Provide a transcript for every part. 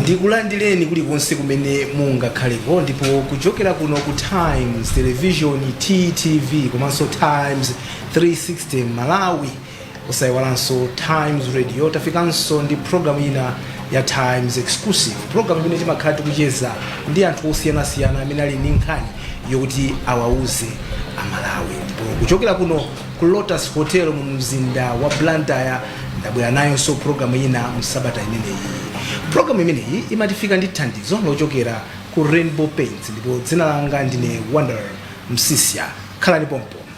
ndikulandireni kulikonse kumene mungakhaleko ndipo kuchokera kuno ku times television ttv komanso times 360 malawi osayiwalanso times radio tafikanso ndi programu ina ya times exclusive programu imene timakhala tikucheza ndi anthu osiyanasiyana amene ali ndi nkhani yokuti awauze amalawi ndipo kuchokera kuno ku lotus hotel mu mzinda wa blantyre ndabwera nayonso programu ina msabata imeneyi programu imeneyi imatifika ndi thandizo lochokera ku rainbow paints ndipo dzina langa ndine wonder msiska khalani pompo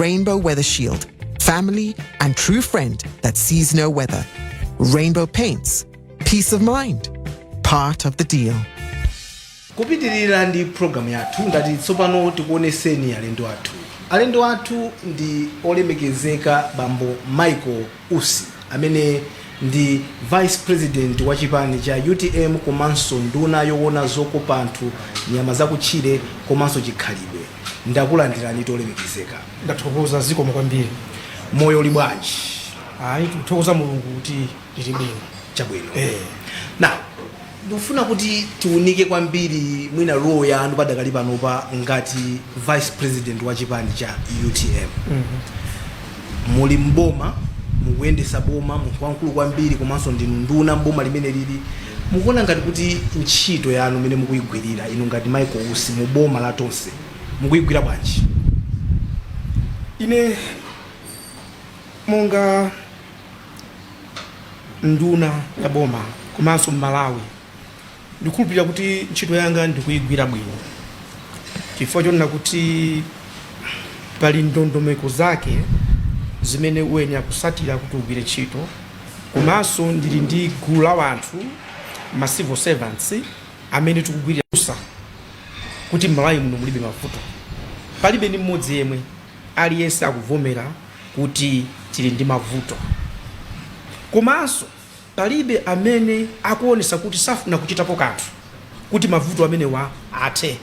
Rainbow Weather Shield, family and true friend that sees no weather. Rainbow Paints, peace of mind, part of the deal. kupitirira ndi programu yathu ndati tsopano tikuoneseni alendo athu alendo athu ndi olemekezeka bambo michael Usi, amene ndi Vice President wa chipani cha utm komanso nduna yowona zokopa anthu, nyama zakutchire komanso chikhalidwe, ndakulandirani olemekezeka. Ndathokoza, zikomo kwambiri. Moyo uli bwanji? Ayi, tikuthokoza Mulungu kuti tili bwino. Chabwino. Eeh. Now, Ndifuna kuti tiunike kwambiri mwina role yanu padakali panopa ngati vice president wa chipani cha utm. Muli m'boma, mukuyendesa boma, munthu wamkulu kwambiri komanso ndinu nduna m'boma limenelili. Mukuona ngati kuti ntchito yanu mmene mukuyigwirira inu ngati Michael Usi mu boma la Tonse mukuyigwira bwanji? Ine monga. nduna ya boma komanso mmalawi ndikhulupirira kuti ntchito yanga ndikuyigwira bwino chifukwa chonena kuti pali ndondomeko zake zimene uyenera kusatira kuti ugwire ntchito komanso ndili ndi gulu la wanthu ma civil servants amene tikugwirira kuti mmalawi muno mulibe mavuto palibe ndi mmodzi yemwe aliyense akuvomera kuti tili ndi mavuto komanso palibe amene akuonetsa kuti safuna kuchitapo kanthu kuti mavuto amenewa athe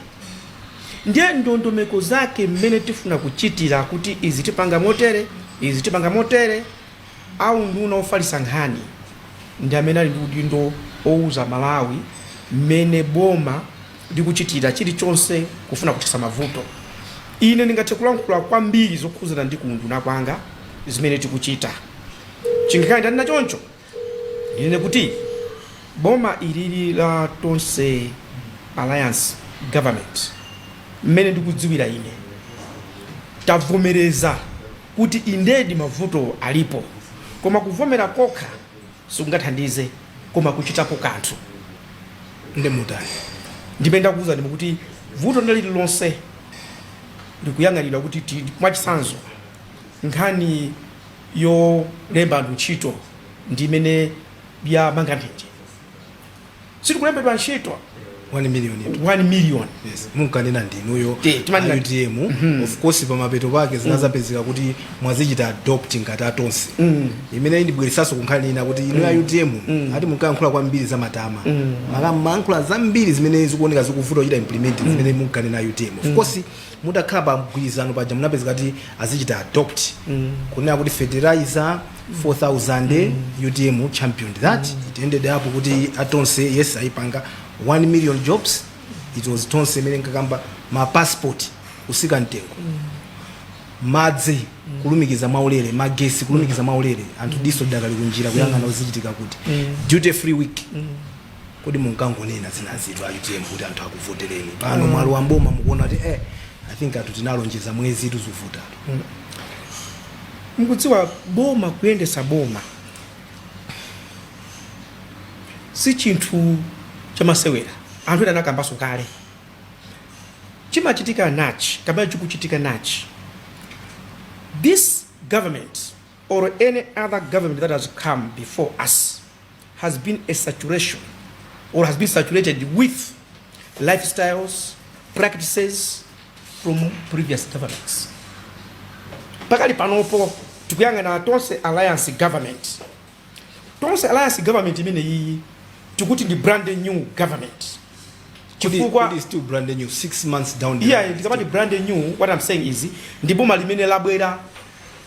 ndiye ndondomeko zake mmene tifuna kuchitira kuti izi tipanga motere izi tipanga motere a nduna ofalitsa nkhani ndi amene ali ndi udindo owuza malawi mmene boma ndi kuchitira chirichonse kufuna kuthetsa mavuto. Ine ndingathe kulankhula kwambiri zokhudzana ndi ku unduna kwanga zimene tikuchita. Chingakhale ndanena choncho, ndinene kuti boma ilili la Tonse Alliance government, mmene ndikudziwira ine, tavomereza kuti indedi mavuto alipo, koma kuvomera kokha sikungathandize koma kuchitapo kanthu nde mutani ndi mmene ndakuuzani mukuti vuto ndi lililonse likuyang'anidwa kuti ti- mwachitsanzo nkhani yolemba anthu ntchito ndi imene yamanga nthenje sitikulembedwa ntchito 1 million yetu. 1 million Yes, munkanena ndinuyo Te, timanena- utm of course pamapeto pake zinadzapezeka kuti mwazichita adopt ngati atonse imene indibweretsanso kunkhani ina kuti inu a utm ati munkayankhula kwambiri za matama mumkayankhula zambiri zimene zikuoneka zikuvuta kuchita implement zimene munkanena utm of course mutakhala pa mgwirizano paja munapezeka kuti azichita adopt kunena kuti fertilizer 4000 utm championed that it ended up kuti atonse yes ayipanga 1 million jobs it was tonse imene inkakamba ma passport kutsika mtengo madzi kulumikiza mwaulere magesi kulumikiza mwaulere anthu diso lidakali kunjira kuyang'ana kuti zichitika kuti duty free week kodi munkangonena zinazitu a utm kuti anthu akuvotereni pano mwalowa mboma mukuona kuti eh i think anthu tinalonjeza mwezi tuzuvuta mukudziwa boma kuyendesa boma si chinthu chamasewera anthu ena anakambanso kale chimachitika n'chani kapena chikuchitika n'chani this government or any other government that has come before us has been a saturation or has been saturated with lifestyles, practices from previous governments. Pakali panopo tikuyang'ana tonse alliance government tonse alliance government imene iyi tikuti ndi brand new government chifukwa It is still brand new six months down the yeah line. ndikamati brand new what i'm saying is ndi boma limene labwera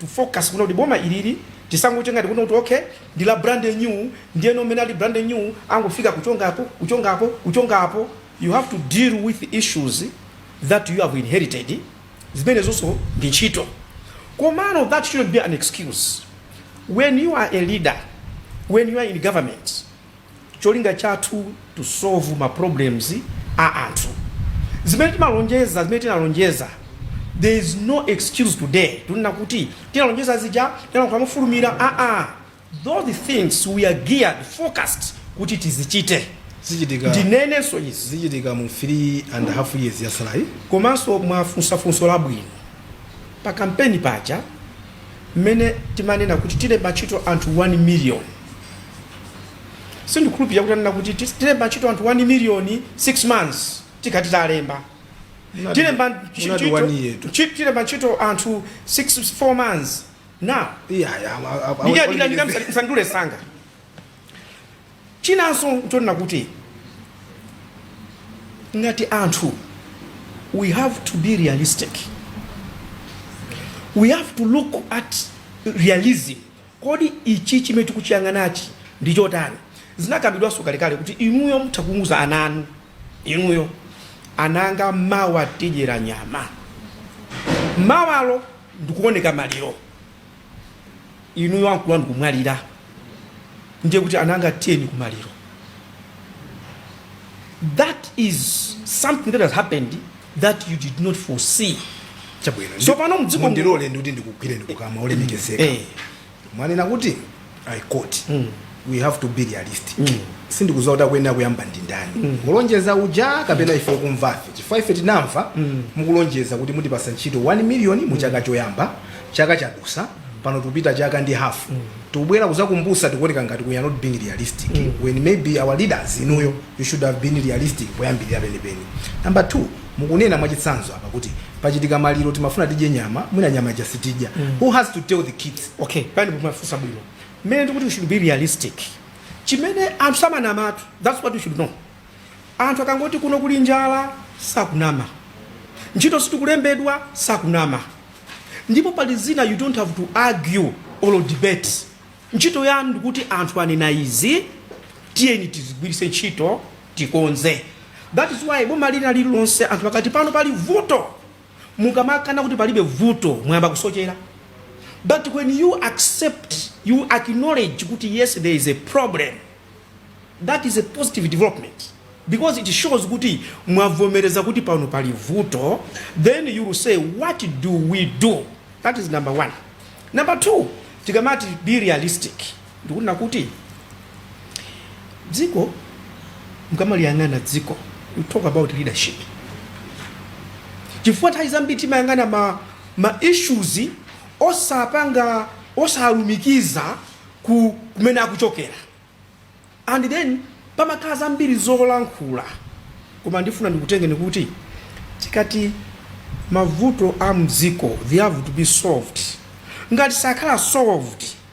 to focus kunena kuti boma ilili tisangochita ngati kunena kuti okay ndi la brand new ndiyeno mmene ali brand new angofika kuchongapo kuchongapo kuchongapo you have to deal with issues that you have inherited zimenezonso ndi ntchito komano that shouldn't be an excuse when you are a leader when you are in government cholinga chathu to solve ma problems a anthu zimene timalonjeza zimene tinalonjeza there is no excuse today tunena kuti tinalonjeza zija tinalankhula mofulumira aa those things we are geared focused kuti tizichite zichitika ndinenenso izi zichitika mu 3 and a half years yatsalayi komanso mwafunsa funso labwino pa kampeni paja mmene timanena kuti tilemba ntchito anthu 1 million sindikukhulupilira kuti tinanena kuti tilemba ntchito anthu 1 million 6 months tikati talemba tilemba tilemba ntchito anthu 6 4 months now yeah yeah ndikadikira ndikamisandule sanga Chinanso nchonena kuti ngati anthu we have to be realistic, we have to look at realism. Kodi ichi chimene tikuchiyang'anachi ndi chotani? Zinakambidwanso kalekale kuti inuyo mutha kuuza ana anu, inuyo ana anga, mawa tidzadya nyama, mawalo ndikuoneka maliro. inuyo ankulu anu kumwalira ndiye kuti ana anga tiyeni kumaliro that is something that has happened that you did not foresee chabwino So pano mdziko mu- mundilole ndikuti ndikugwire ndikukama olemekezeka Eh. mwanena kuti i quote we have to be realistic sindikudziwa kuti akuyenera kuyamba ndi ndani olonjeza uja kapena ife okumvafe chifukwa ife tinamva mukulonjeza kuti mutipasa ntchito 1 million mu chaka choyamba chaka chadusa pano tikupita chaka ndi hafu tikubwera kuzakumbusa tikuoneka ngati we are not being realistic when maybe our leaders inuyo you should have been realistic poyambirira penipeni number two mukunena mwachitsanzo apa kuti pachitika maliro timafuna tidye nyama mwina nyama ija sitidya who has to tell the kids Ok pamenepo mwafunsa bwino mmene ndikuti we should be realistic chimene anthu samanamatu that's what we should know anthu akangoti kuno kuli njala sakunama ntchito sitikulembedwa sakunama ndipo pali zina you don't have to argue or debate ntchito yanu ndikuti anthu anena izi tiyeni tizigwiritse ntchito tikonze that is why boma lina lililonse anthu akati pano pali vuto mukamakana kuti palibe vuto mwayamba kusochera but when you accept you acknowledge kuti yes there is a problem that is a positive development because it shows kuti mwavomereza kuti pano pali vuto then you will say what do we do that is number one number two tikamati be realistic Ndikunena kuti dziko mukamaliyang'ana dziko we talk about leadership chifukwa nthawi zambiri timayang'ana ma, ma issues osapanga osalumikiza kumene akuchokera and then pamakhala zambiri zolankhula koma ndifuna ndikutengeni kuti tikati mavuto a mdziko they have to be solved ngati sakhala solved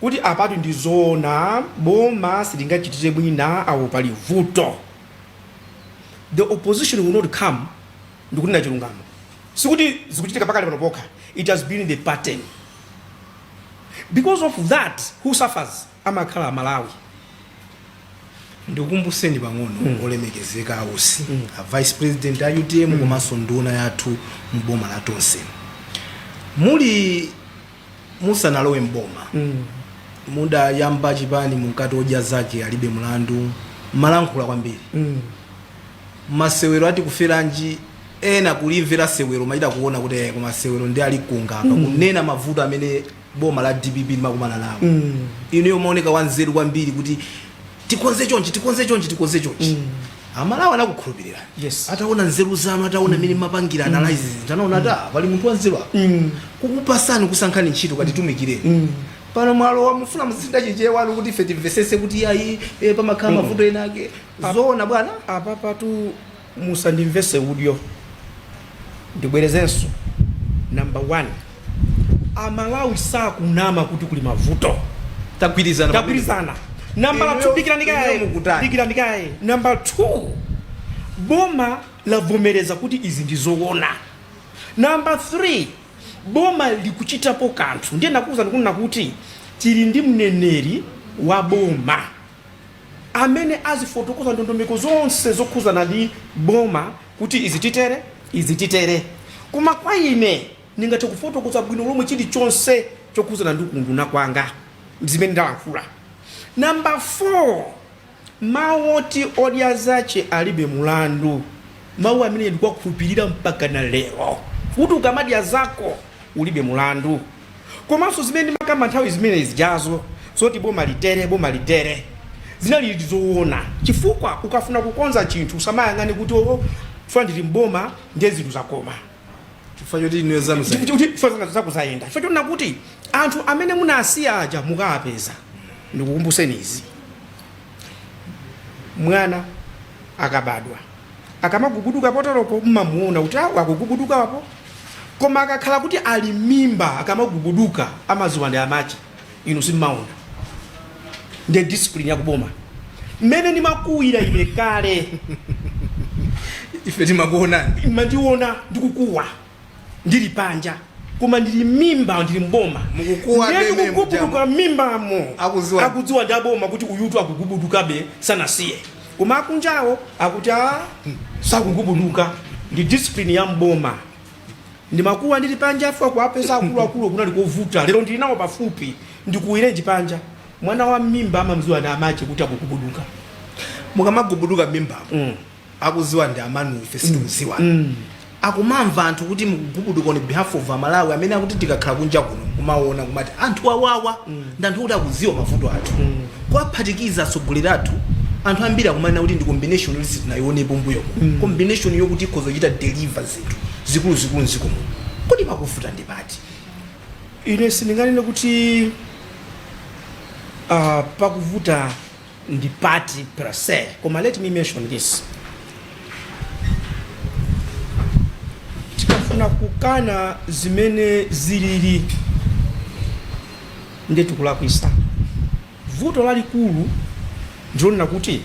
kuti apatu ndi zoona boma silingachitire mwina awo pali vuto the opposition will not come ndikunena chilungamo sikuti zikuchitika pakali pano pokha it has been the pattern because of that who suffers amakhala amalawi ndikukumbuseni pang'ono mm. olemekezeka a Usi mm. a vice president a utm mm. komanso nduna yathu mboma la tonse muli musanalowe m'boma Mm. mudayamba chipani Odya zake alibe mlandu malankhula kwambiri Mm. masewero ati kuferanji ena kulimvera sewero machita kuona kuti eh, koma sewero ndi ali kukamba apa kunena mavuto amene boma la dpp limakumana nawo Mm. inuyo mumaoneka wanzeru kwambiri kuti tikonze chonchi tikonze chonchi tikonze chonchi amalawi anakukhulupirira Yes. ataona nzeru zanu ataona mmene mapangira analyze zinthu anaona kuti "Ah, pali munthu wanzeru apa kukupatsani kusankhani ntchito katitumikireni pano mwalowa mukufuna muzisintha Chichewa chanu kuti ife timvesese kuti ayi eh, pamakhala mavuto ena ake zoona bwana apapatu musandimvese udyo ndibwerezenso number one amalawi sakunama kuti kuli mavuto Tagwirizana pamenepo. tagwirizana nambala Inuyo- 2 dikirani inuyo kaye mukutani? dikirani kaye namba 2 boma lavomereza kuti izi ndi zoona namba 3 boma likuchitapo kanthu ndiye ndakuwuzani ndikunena kuti tili ndi mneneri wa boma amene azifotokoza ndondomeko zonse zokhuzana ndi boma kuti izi titere izi titere koma kwa ine ndingathe kufotokoza bwino lomwe chilichonse chokhuzana ndi kunduna kwanga zimene ndalankhula namba 4 mawu oti odya zache alibe mulandu mawu amene ndikuwakhulupirira mpaka na lero kuti ukamadya zako ulibe mulandu Komanso zimene ndimakamba nthawi zimene zijazo zoti boma litere, boma litere, zinalidi zoona chifukwa ukafuna kukonza chinthu usamayang'ane kuti, oh, chifukwa ndili m'boma ndiye zinthu zakoma. Chifukwa choti inuyo zanu Ndi- zayenda. ndi- ndi- chifukwa zanga zako zayenda. Chifukwa chonena kuti anthu amene munawasiya aja mukawapeza. Ndikukumbuseni izi. Mwana akabadwa Akamagubuduka pabwalopo mmamuona kuti awo akugubuduka apo koma akakhala kuti ali mimba akamagubuduka amaziwa ndi amache inu simmaona ndi discipline ya kuboma mmene ndimakuwira ine kale ife timakuonani mmandiona ndikukuwa ndili panja koma ndili mmimba ndili mboma Mukukuwa nde ndemwe ndikugubuduka mujamo. mmimbamo Akudziwa- akudziwa ndi aboma kuti uyutu akugubudukabe sanasiye koma akunjawo akuti a sakugubuduka ndi discipline ya mboma ndimakuwa ndili panja chifukwa kuwapeza akuluakulu kunali kovuta lero ndili nawo pafupi ndikuwirenji panja mwana wa mmimba amamziwa ndi amache kuti akugubuduka mukamagubuduka mmimbamu mm. akuziwa ndi amanu ife sitikuziwa mm. mm. akumamva anthu kuti mgubuduka on behalf of amalawi amene akuti tikakhala kunja kuno kumaona kumati anthu awawa mm. ndi anthu kuti akuziwa mavuto athu mm. kuwaphatikiza atsogoleri athu anthu ambiri akumanena kuti ndi combination yoti sitinayionepo mbuyo mm. combination yokuti ikhoza kuchita deliver zinthu zikuluzikulu mziko muno kodi pakuvuta ndi pati ine sindinganene kuti uh, pakuvuta ndi pati per se koma let me mention this tikafuna kukana zimene zilili nde tikulakwisa vuto lalikulu ndilonena kuti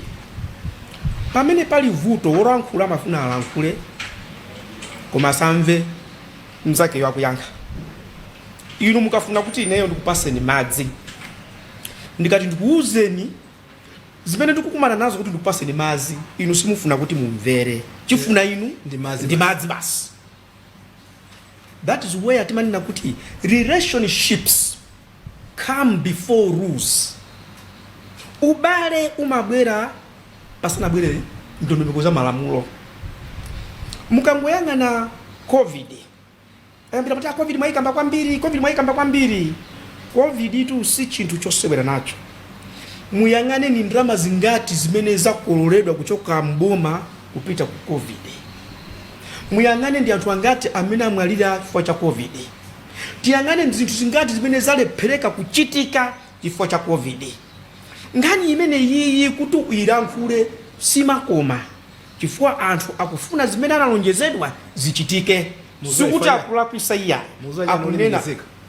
pamene pali vuto wolankhula amafuna alankhule koma asamve mzakeyo akuyankha inu mukafuna kuti ineyo ndikupaseni madzi ndikati ndikuwuzeni zimene ndikukumana nazo kuti ndikupaseni madzi inu simufuna kuti mumvere chifuna inu Ndi madzi ndi basi. madzi basi that is where timanena kuti relationships come before rules ubale umabwera pasanabwere ndondomeko za malamulo mukangoyang'ana covid ambiri akuti covid mwayikamba kwambiri covid tu si chinthu chosewera nacho muyang'ane ni ndalama zingati zimene zakololedwa kuchoka mboma kupita ku covid muyang'ane ndi anthu angati amene amwalira chifukwa cha covid tiyang'ane ndi zinthu zingati zimene zalephereka kuchitika chifukwa cha covid nkhani imene yiyi kuti uyilankhule simakoma chifukwa anthu akufuna zimene analonjezedwa zichitike sikuti akulakwisa iyayi akunena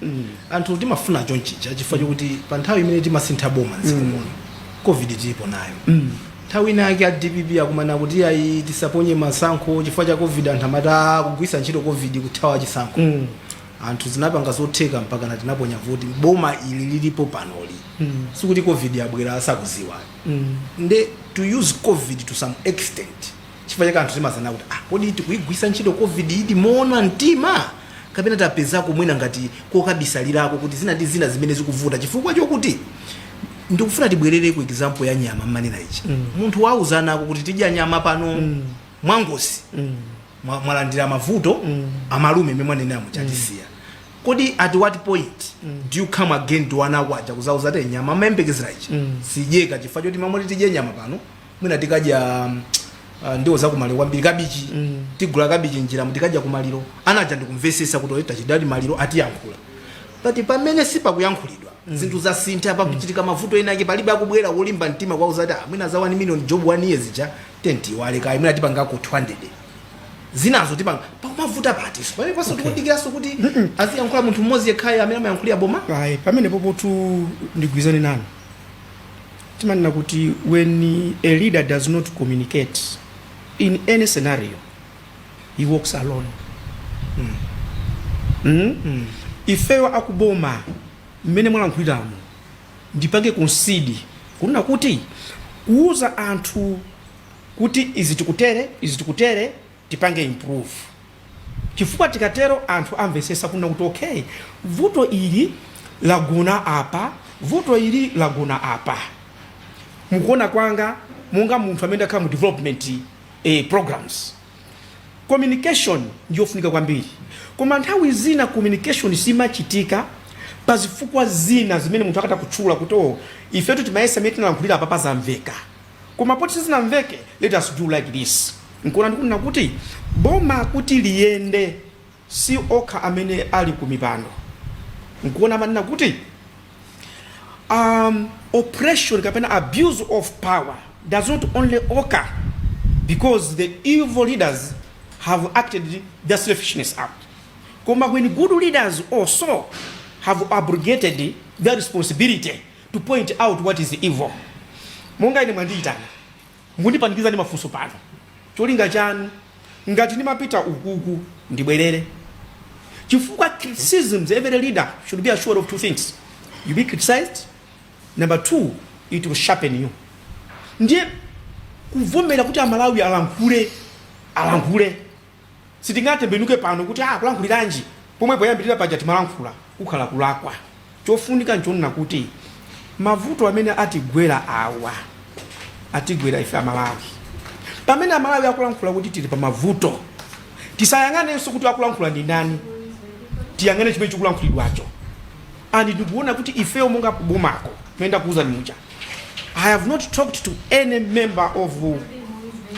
mm. anthu timafuna chonchija chifukwa chokuti pa nthawi imene timasintha boma mdziko mm. muno covid tilipo nayo mm. nthawi ina yake a dpp akumanena kuti ayi tisaponye masankho chifukwa cha covid anthu amatha kugwisa ntchito covid kuthawa chisankho mm. anthu tinapanga zotheka mpakana tinaponya voti boma ili lilipo panoli mm. sikuti covid yabwera asakuziwa nde to use covid to some extent chifukwa chake anthu timazanena kuti ah, kodi tikuigwisa ntchito covid idi moona mtima kapena tapezako mwina ngati kokabisalirako kuti zina ndi zina zimene zikuvuta chifukwa chokuti ndikufuna tibwerere ku example ya nyama mmanena ija munthu wauzanako kuti tidya nyama pano mwangozi mwa- mwalandira mavuto amalume mmene mwanenera muja atisiya Kodi at what point do you come again to ana ako aja kudzawauza kuti nyama amayembekezera ichi sidyeka chifukwa choti mmalo moti tidye nyama pano mwina tikadya um, uh, ndiwo zakumaliro kwambiri kabichi tigula kabichi muja tikadya kumaliro ana aja ndikumvesesa kuti oyitanira maliro atiyankhula but pamene sipakuyankhulidwa zinthu zasintha pakuchitika mavuto ena ake palibe akubwera molimba mtima kutiuza kuti "Ah, mwina za 1 million jobs ija tayamba tiyiwale kaye mwina tipangako 200 thousand tipanga pakumavuta apa so pamenepanso tikudikiranso kuti aziyankhula munthu mmodzi yekhayo amene amayankhulira boma ayi pamenepotu ndigwirizane nanu timanena kuti when a leader does not communicate in any scenario he walks alone mm. ifeyo akuboma mmene mwalankhuliramo ndipange concede kunena kuti kuuza anthu kuti izi tikutere izi tikutere tipange improve chifukwa tikatero anthu amvesesa kunena kuti okay vuto ili lagona apa vuto ili lagona apa mukuona kwanga monga munthu amene ndakhala mu development eh, programs communication ndiyofunika kwambiri koma nthawi zina communication simachitika pa zifukwa zina zimene munthu akatha kutchula kuti o oh, ifetu timayesa mene tinalankhulira apa pazamveka koma poti sizinamveke let us do like this nkuona ndikunena kuti boma kuti liyende si okha amene ali ku mipando nkuona timanena kuti um, oppression kapena abuse of power does not only occur because the evil leaders have acted their selfishness out koma when good leaders also have abrogated their responsibility to point out what is evil. Monga ine mwandiitana, mundipanikiza ndi mafunso pano. Cholinga chanu ngati ndimapita ukuku ndibwerere. Chifukwa criticisms every leader should be assured of two things. You be criticized. Number two, it will sharpen you. Ndiye kuvomera kuti amalawi alankhule alankhule Sitingatembenuke pano kuti ah kulankhuliranji pomwe poyambilira paja timalankhula. Kukhala kulakwa. Chofunika nchonena kuti mavuto amene atigwera awa atigwera ife amalawi. Pamene amalawi akulankhula kuti tili pamavuto tisayang'anenso kuti akulankhula ndi ndani. Tiyang'ane chimene chikulankhulidwacho and ndikuona kuti ifeyo monga kubomako mmene ndakuuzani muja I have not talked to any member of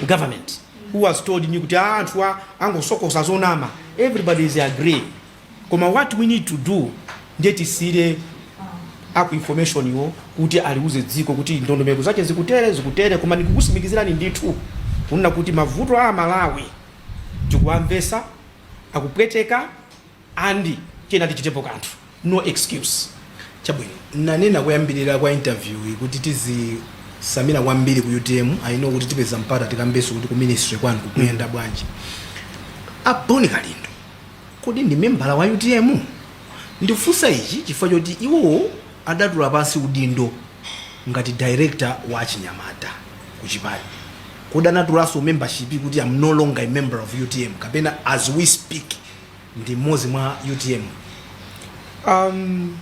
government. who has told me kuti aa anthu angosokosa zonama everybody is agreed koma what we need to do nde tisiyire aku information-wo kuti aliuze dziko kuti ndondomeko zake zikutere zikutere koma ndikukusimikizirani ndithu kunena kuti mavuto a amalawi tikuwamvesa akupweteka And tiyeni tichitepo kanthu no excuse. Chabwino nnanena koyambilira kwa interview yi kuti tizitsamira kwambiri ku utm I know kuti tipeza mpata tikambeso kuti ku ministry kwanu kukuyenda bwanji. A Bon Kalindo kodi ndi membala wa utm? Ndikufunsa ichi chifukwa choti iwowo adatula pansi udindo ngati director wa achinyamata ku chipani. Kodi anatulaso membership kuti am no longer a member of utm kapena as we speak ndi mmodzi mwa utm um,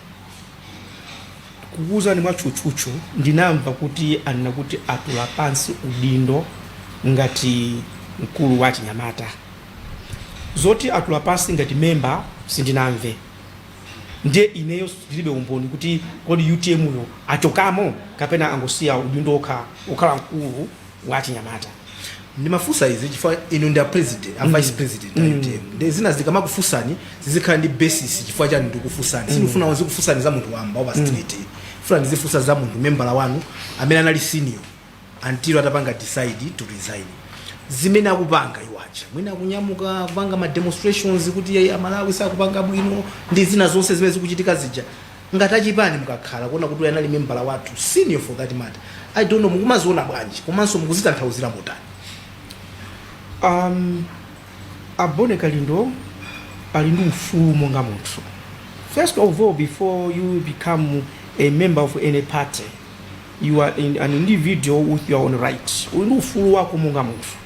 kukuwuzani mwatchutchutchu ndinamva kuti anena kuti atula pansi udindo ngati mkulu wa achinyamata zoti atula pansi ngati memba sindinamve ndiye ineyo ndilibe umboni kuti kodi utm yo achokamo kapena angosiya udindo okha okhala mkulu wa achinyamata ndimafunsa izi chifukwa inu ndi a president a vice president a utm ndiye zina ndikamakufunsani zizikhala ndi basis chifukwa chani ndikufunsani sindikufuna ndizikufunsani za munthu wamba wa pa street funa ndizifunsa za munthu membala wanu amene anali senior until atapanga decide to resign zimene akupanga kukacha mwina akunyamuka akupanga ma demonstrations kuti eee amalawi sakupanga bwino ndi zina zonse zimene zikuchitika zija Ngati achipani mukakhala kuona kuti uyu anali membala wathu senior for that matter I don't know mukumaziona bwanji komanso mukuzitanthauzira motani um, a Bon Kalindo ali ndi ufulu monga munthu first of all before you become a member of any party you are an individual with your own rights uli ndi ufulu wako monga munthu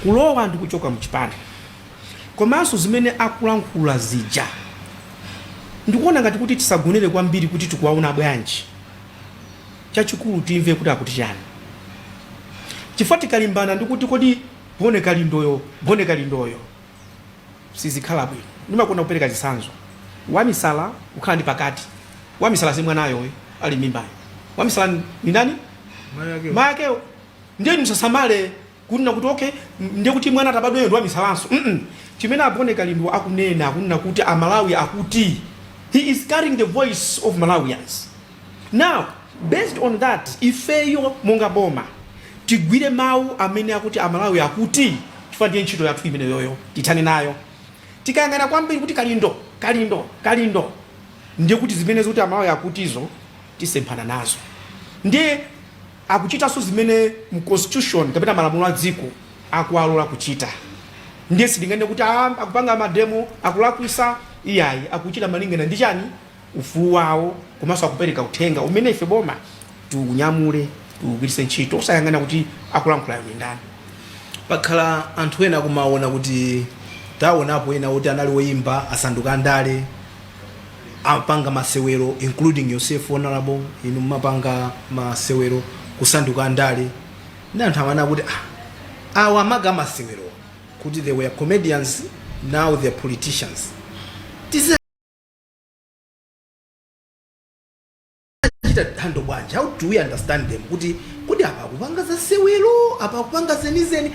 kulowa ndi kuchoka mchipani komanso zimene akulankhula zija. Ndikuona ngati kuti tisagonere kwambiri kuti tikuwaona bwanji, chachikulu timve kuti akuti chani chifukwa tikalimbana ndi kuti kodi Bon Kalindoyo, Bon Kalindoyo sizikhala bwino. Ndimakonda kupereka chitsanzo, wamisala kukhala ndi pakati, wamisala si mwanayo yemwe ali m'mimbayo, wamisala ndi ndani? Mayi akewo. Ndiye inu musasamale. kunena kuti okay ndiye kuti mwana atabadwayo ndi wamisalanso mm -mm. chimene a bon kalindo akunena kunena kuti amalawi akuti he is carrying the voice of malawians now based on that ifeyo monga boma tigwire mawu amene akuti amalawi akuti chifukwa ndiye ntchito yathu imeneyoyo tithane nayo tikayang'ana kwambiri kuti kalindo kalindo kalindo ndiye kuti zimene zoti amalawi akutizo tisemphana nazo ndiye Akuchitanso zimene mu constitution kapena malamulo a dziko akuwalola kuchita ndiye sitinganene kuti aah akupanga mademo akulakwisa iyayi akuchita malingana ndi chani ufulu wawo komanso akupereka uthenga umene ife boma tiunyamule tiugwiritse ntchito osayang'ana kuti akulankhulayo ndi ndani. Pakhala anthu ena akumawona kuti tawonapo ena woti anali oyimba asanduka andale. amapanga masewelo including yourself honourable inu mumapanga masewelo kusanduka andale nde anthu amanena kuti ah, awa amapanga masewelo kuti they were comedians now they are politicians tizachita handle bwanji how do we understand them kuti kodi apa akupanga za sewelo apa akupanga zenizeni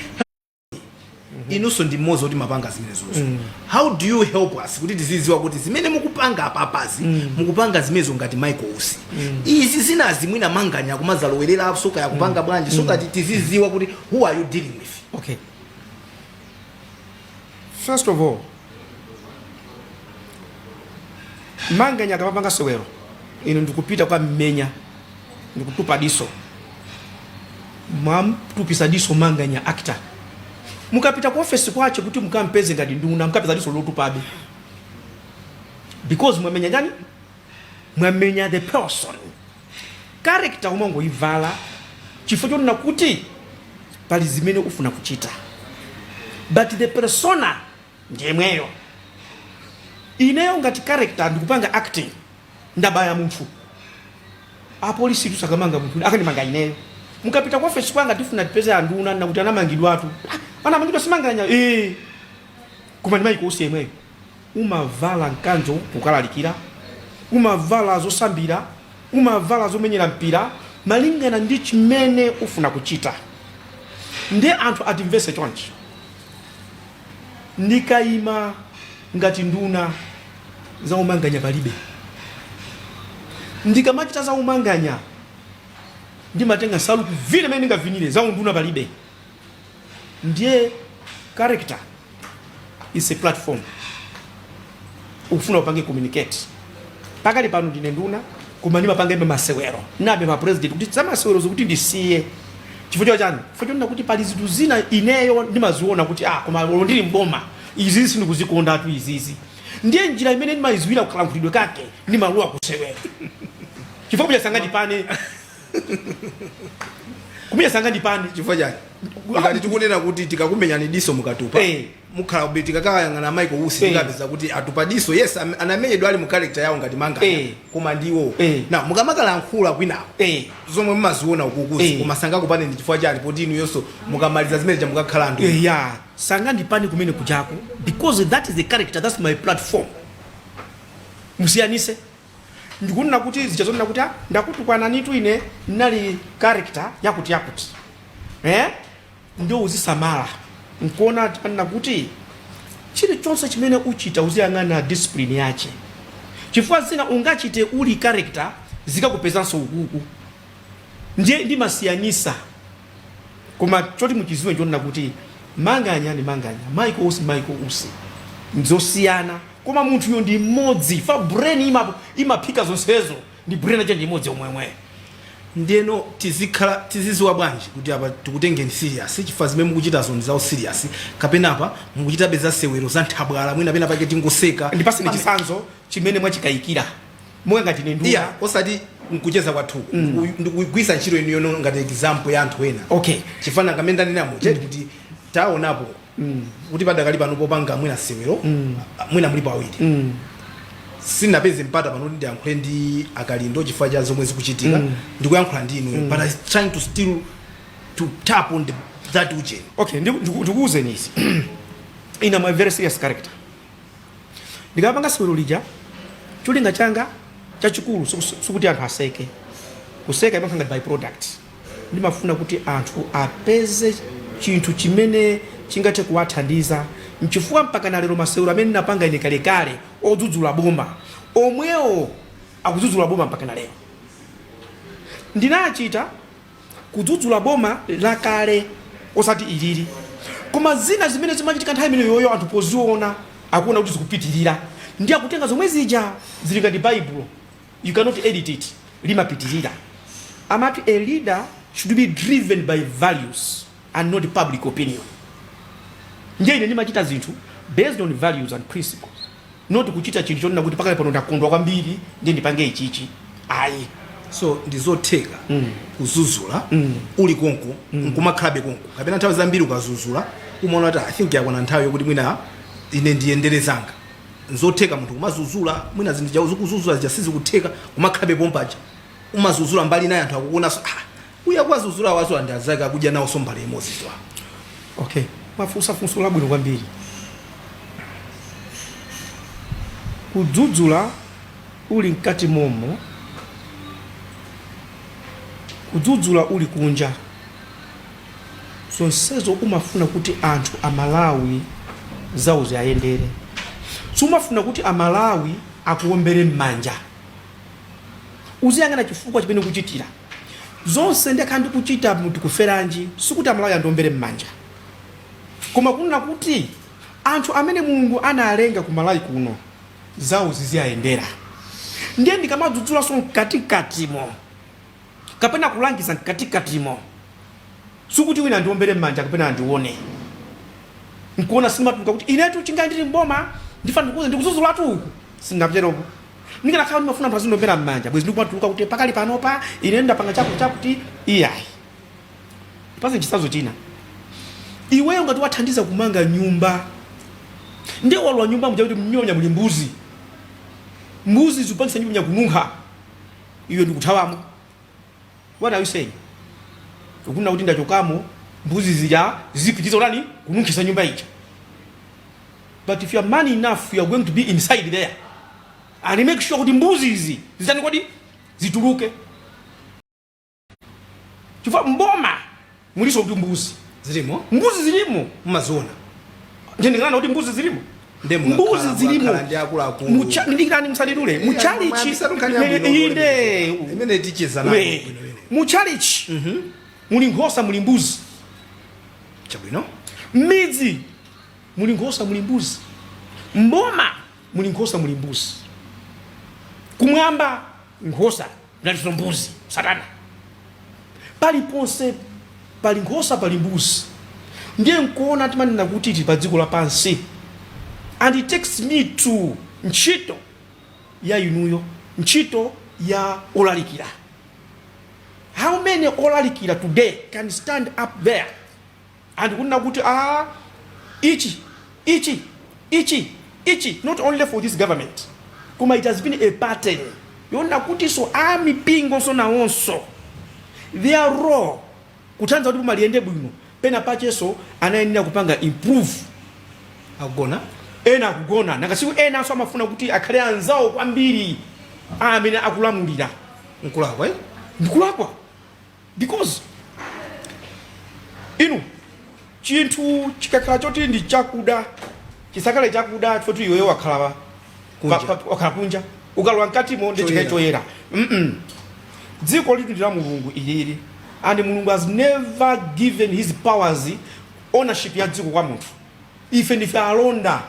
inunso ndi mmodzi oti mapanga zimenezozo how do you help us kuti tizidziwa kuti zimene mukupanga apapazi mukupanga zimenezo ngati michael usi izi zinazi mwina manganya akumazalowerera so kaya akupanga bwanji so kuti tizidziwa kuti who are you dealing with okay first of all manganya akamapanga sewero inu ndikupita kukammenya ndikutupa diso mwamtupisa diso manganya actor mukapita ku ofesi kwache kuti mukampeze ngati nduna mukapeza diso lotupabe because mwamenya yani mwamenya the person Character umangoivala chifukwa chonena kuti pali zimene ufuna kuchita but the persona ndiyemweyo. Ineyo ngati character ndikupanga acting ndabaya munthu, apolisitu sakamanga munthu akandimanga ineyo. Mukapita ku ofesi kwanga tifuna tipeze anduna akuti anamangidwatu. Ah, anamangidwa si Manganya. Eh. Koma ndi Michael Usi yemweyo. Umavala mkanjo kukalalikira? Umavala zosambira? Umavala zomenyera mpira? Malingana ndi chimene ufuna kuchita nde anthu atimvese chonchi. Ndikaima ngati nduna za umanganya palibe. Ndikamachita za umanganya ndimatenga nsalu kuvina mmene ndingavinire, za unduna palibe. ndiye character is a platform ukufuna upange communicate pakali pano ndine nduna koma ndimapangabe masewero napempha president kuti zamasewero sikuti ndisiye chifukwa chani chifukwa chonena kuti pali zinthu zina ineyo ndimaziona kuti ah koma olo ndili mboma izizi sindikuzikondatu izizi ndiye njira imene ndimayiziwira kukalankhulidwe kake ndimalowa kusewero chifukwa kuja sangatipane kumenya sangandipande chifukwa chani Ah. ngati tikunena kuti tikakumenyani diso mukatupa Eh. mukhala kuti tikakayang'ana Michael Usi Eh. tikapeza kuti atupa diso yes am- anamenyedwa ali mu character yawo ngati Manganya Eh. koma ndiwo Eh. na mukamakalankhula kwinawo Eh. zomwe mumaziona ukukuzi Eh. koma sangakupandeni chifukwa chani poti inu yonso mukamaliza zimene ja mukakhala anthu Eh, ya sangandipande kumene kujako because that is the character that's my platform musiyanise ndikunena kuti zija zonena kuti "Ah, ndakutukwananitu ine ndinali character yakuti yakuti eh? ndiye uzisamala nkuona anena kuti chilichonse chimene uchita uziyang'ana discipline yache chifukwa zina ungachite uli character zikakupezanso ukuku ndiye ndimasiyanisa koma choti muchiziwe nchonena kuti manganya ndi manganya michael usi michael usi nzosiyana koma munthuyo ndi mmodzi fa brain ima- imaphika zonsezo ndi brain yache ndi imodzi omwemwe ndeno tizikhala tiziziwa bwanji kuti apa tikutengeni serious chifukwa zimene mukuchitazo ndi zawo serious kapena apa mukuchitabe za sewero za nthabwala mwina pena pake tingoseka ndipaseni chisanzo chimene mwachikayikira monga ngati ine nduna iya osati nkucheza kwathuku mm. ndikugwirisa ntchito inu yono ngati example ya anthu ena okay chifanana mmene ndanena muja mm. kuti taonapo mm. kuti padakali pano popanga mwina sewero mm. mwina mulipo awiri mm. sindinapeze mpata pano kuti ndiyankhule ndi a Kalindo chifukwa cha zomwe zikuchitika mm. ndikuyankhula ndi inu mm. but I trying to still to tap on the, that ujeni okay ndikuuzeni izi ine am a very serious character Ndikamapanga sewero lija, cholinga changa chachikulu sikus- sikuti anthu aseke. Kuseka imakhala ngati byproduct. Ndimafuna kuti anthu apeze chinthu chimene chingathe kuwathandiza. Nchifukwa mpaka na lero masewero amene ndinapanga ine kalekale odzudzula boma, omwewo akudzudzula boma mpaka na lero. Ndinachita kudzudzula boma lakale osati ilili koma zina zimene zimachitika nthawi imeneyoyo anthu poziona akuona kuti zikupitirira ndiye akutenga zomwe zija zili ngati baibulo you cannot edit it limapitirira amati a leader should be driven by values and not public opinion ndiye ine ndimachita zinthu based on values and principles not kuchita chinthu chonena kuti pakali pano ndakondwa kwambiri ndiye ndipange ichichi ayi. So ndizotheka kuzuzula uli konko nkumakhalabe konko kapena nthawi zambiri ukazuzula umaona kuti I think yakwana nthawi yokuti mwina ine ndiyendere zanga. Nzotheka munthu kumazuzula mwina zinthu zija ukuzuzula zija sizikutheka kumakhalabe pompaja umazuzula mbali inayi anthu akukuonanso ah Uyu akuwadzudzula awadzudzula ndi anzake akudya nawo nsomba mbale imodzi. Okay. Mwafunsa funso la bwino kwambiri. Kudzudzula uli mkati momo. Kudzudzula uli kunja. Zonsezo umafuna kuti anthu Amalawi zawo ziayendere. Sumafuna kuti Amalawi akuombere m'manja. Uziyang'ana chifukwa chimene ukuchitira. Zonse ndakhala ndikuchita mu Tikuferanji sikuti Amalawi andiombere mmanja. Koma kunena kuti anthu amene Mulungu analenga ku Malawi kuno zawo ziziwayendera. Ndiye ndikamadzudzulanso mkatikatimo. kapena kulangiza mkatikatimo. Sikuti wina andiombere m'manja kapena andione nkuona sindimatuluka kuti inetu chingayi ndili mboma ndifuna ndikuuze ndikudzudzulatu uku sindinapiteropo ndikanakhala ndimafuna anthu azindiombera m'manja bwenzi ndikumatuluka kuti pakali panopa ine ndapanga chakuti chakuti iyayi pazitsanzo china iweyo ngati wathandiza kumanga nyumba ndiye walowa nyumba muja kuti mnyumba muli mbuzi mbuzi zikupangitsa nyumba kununkha iwe ndikuthawamo what are you saying ukunena kuti ndachokamo mbuzi zija zipitiriza kutani kununkhitsa nyumba ija but if you are man enough you are going to be inside there and make sure kuti mbuzi izi zitani kodi zituluke chifukwa mboma mulinso kuti mbuzi zilimo mbuzi zilimo mumaziona sindikukana kuti mbuzi zilimo mbuzi zilimo ndiyeno musandidule muchalichi inde imene ticheza nayo muchalichi mhm. muli nkhosa muli mbuzi chabwino mmidzi muli nkhosa muli mbuzi mboma muli nkhosa muli mbuzi kumwamba nkhosa kunalinso mbuzi satana paliponse pali nkhosa pali mbuzi ndiye nkuona timanena kuti tili pa dziko lapansi and it takes me to ntchito ya inuyo ntchito ya olalikira how many olalikira today can stand up there and kunena kuti aah ichi ichi ichi ichi not only for this government koma it has been a pattern yonena kutinso a mipingonso nawonso their role kuthandiza kuti boma liyende bwino penapakenso anayenera kupanga improve akugona ena akugona ngati usiku enanso amafuna kuti akhale anzawo kwambiri amene akulamulira nkulakwa eh? ndikulakwa because inu chinthu chikakhala choti ndi chakuda chisakhale chakuda choti iwewe wakhala Kunja. pa- pa- wakhala kunja ukalowa mkatimo ndi chikhale Choyera. choyera Mm-mm. dziko ilitu ndi la mulungu ilili and mulungu has never given his powers ownership ya dziko kwa munthu ife ndife alonda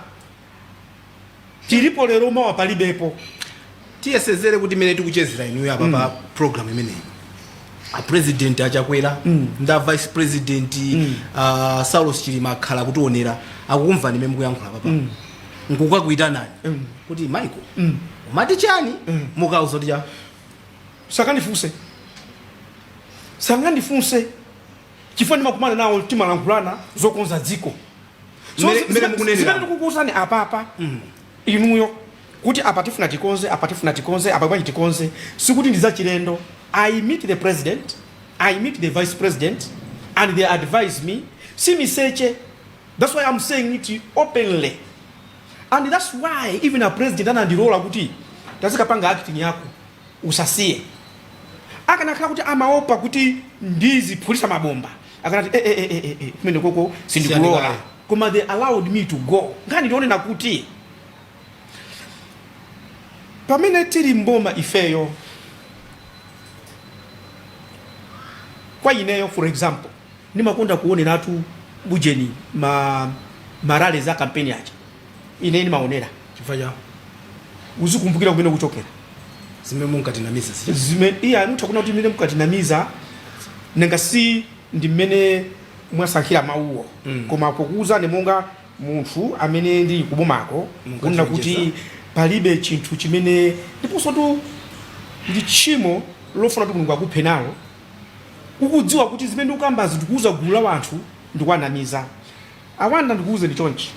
tilipo lero mawa palibepo tiyesezere kuti imene tikuchezera inuyo apa pa program imeneyi a president achakwera ndi a vice president uh, saulos chilima akhala akutionera akukumvani imene mukuyankhula apapa nkukakuitanani kuti michael umati chani mukawauza kuti chani sangandifunse sangandifunse chifukwa ndimakumana nawo timalankhulana zokonza dziko So, Mmene- zi- mmene zimene- mukunenera. zimene ndikukuwuzani apapa inuyo kuti apa tifuna tikonze apa tifuna tikonze apa bwanji tikonze sikuti ndi zachilendo i meet the president i meet the vice president and they advise me si miseche that's why i'm saying it openly and that's why even a president anandilola kuti tazikapanga acting yako Usasiye. Akanakhala kuti amaopa kuti ndiziphulisa mabomba akanati eh, eh, eh, eh, kumenekoko sindikulola koma they allowed me to go. Nkhani ndiyonena kuti pamene tili mboma ifeyo kwa ineyo for example Ndimakonda kuoneratu ubujeni ma ma rallies a campaign aja ine ndimaonera chifukwa cha uzikumbukira kumene ukuchokera zimene munkatinamiza zija zimene iye mufuna kunena kuti zimene mukatinamiza nanga si ndi mmene mwasankhira mawuwo Mm. koma pokuwuzani monga munthu amene ndili kubomako Munkachenjeza. kunena kuti palibe chinthu chimene ndiponsotu ndi tchimo lofuna kuti mulungu akuphe nalo ukudziwa kuti zimene ukukambazi ndikuuza gulu la wanthu ndikuwanamiza awanda ndikuuze ndi chonchi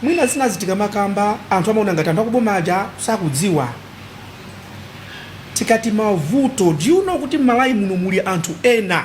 mwina zinazi tikamakamba anthu amaona ngati anthu akuboma aja sakudziwa tikati mavuto do you know kuti m'malawi muno muli anthu ena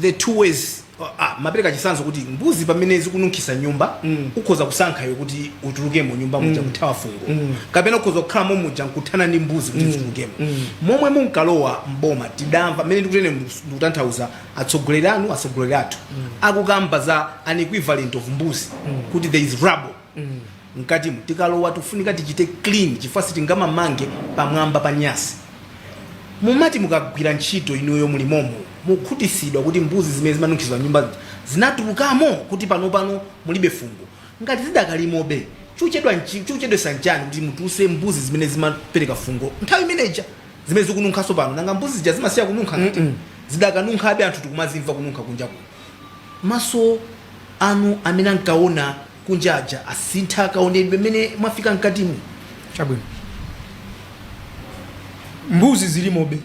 the two ways amapereka chitsanzo kuti mbuzi pamene zikununkhisa mnyumba mm. ukhoza kusankha iwe kuti utulukemo mnyumba muja mm. kuthawa fungo mm. kapena ukhoza kukhalamo muja nkuthana ndi mbuzi kuti mm. zitulukemo mm. momwe munkalowa mboma tidamva mmene ndikutene ndikutanthauza atsogoleri anu atsogoleri athu mm. akukamba za an equivalent of mbuzi mm. kuti there is rubble mm. mkatimu tikalowa tikufunika tichite clean chifukwa sitingamamange pamwamba pa nyasi. Mumati mukagwira ntchito inuyo muli momo mukhutisidwa kuti mbuzi zimene zimanunkhiza mnyumba zija zinatulukamo kuti panopano mulibe fungo? Ngati zidakalimobe chochedwa nchi- chochedwetsa nchani kuti mutuluse mbuzi zimene zimapereka fungo nthawi imene ija zimene zikununkhanso pano? Nanga mbuzi zija zimasiya kununkha ngati? Zidakanunkhabe anthu tikumazimva kununkha kunja kuno. Maso anu amene ankaona. kunja aja asintha kaonedwe mmene mwafika mkatimu chabwino mbuzi zilimobe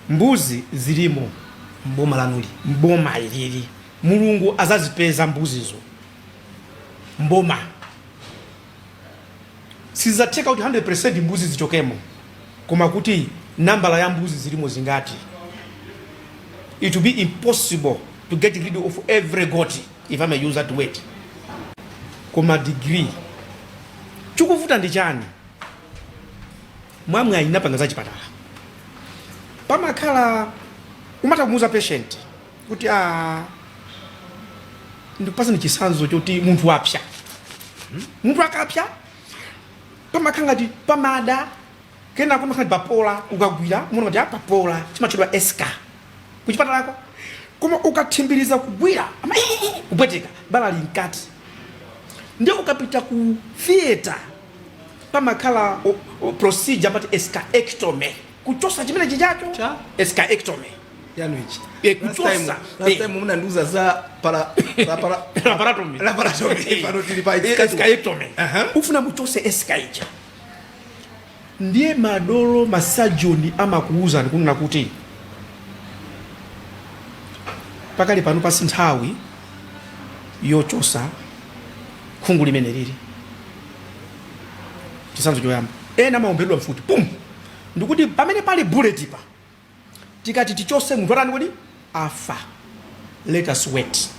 mbuzi zilimo mboma lanuli mboma ilili mulungu adzazipeza mbuzizo mboma sidzatheka kuti 100% mbuzi zichokemo koma kuti nambala ya mbuzi zilimo zingati it will be impossible to get rid of every goat if I may use that word koma degree chikuvuta ndi chani mwamwayi ndinapanga za chipatala pamakhala umatha kumuuza patient kuti a ndikupasani chitsanzo choti munthu wapsa munthu akapsa pamakhala ngati pamada kena kumakhala ngati papola ukagwira muona ngati apapola chimatchedwa eschar kuchipatalako koma ukathimbiriza kugwira ama kupweteka bala linkati ndiye ukapita ku theater pamakhala o- o- procedure amati escharectomy kuchotsa chimene chichacho Cha? escharectomy yanu ichi Eh, Last kuchotsa. time- last Eh. time munandiuza za para za para Laparotomy. laparotomy pano tili pa Eh, escharectomy. Aha. ufuna muchotse eschar ija ndiye madolo ma surgeon amakuwuzani kunena kuti pakali pano pa si nthawi yochotsa khungu limene lili chitsanzo choyamba ena amaomberedwa mfuti pum ndikuti pamene pali bullet pa tikati tichotse munthu atani koti afa let us wait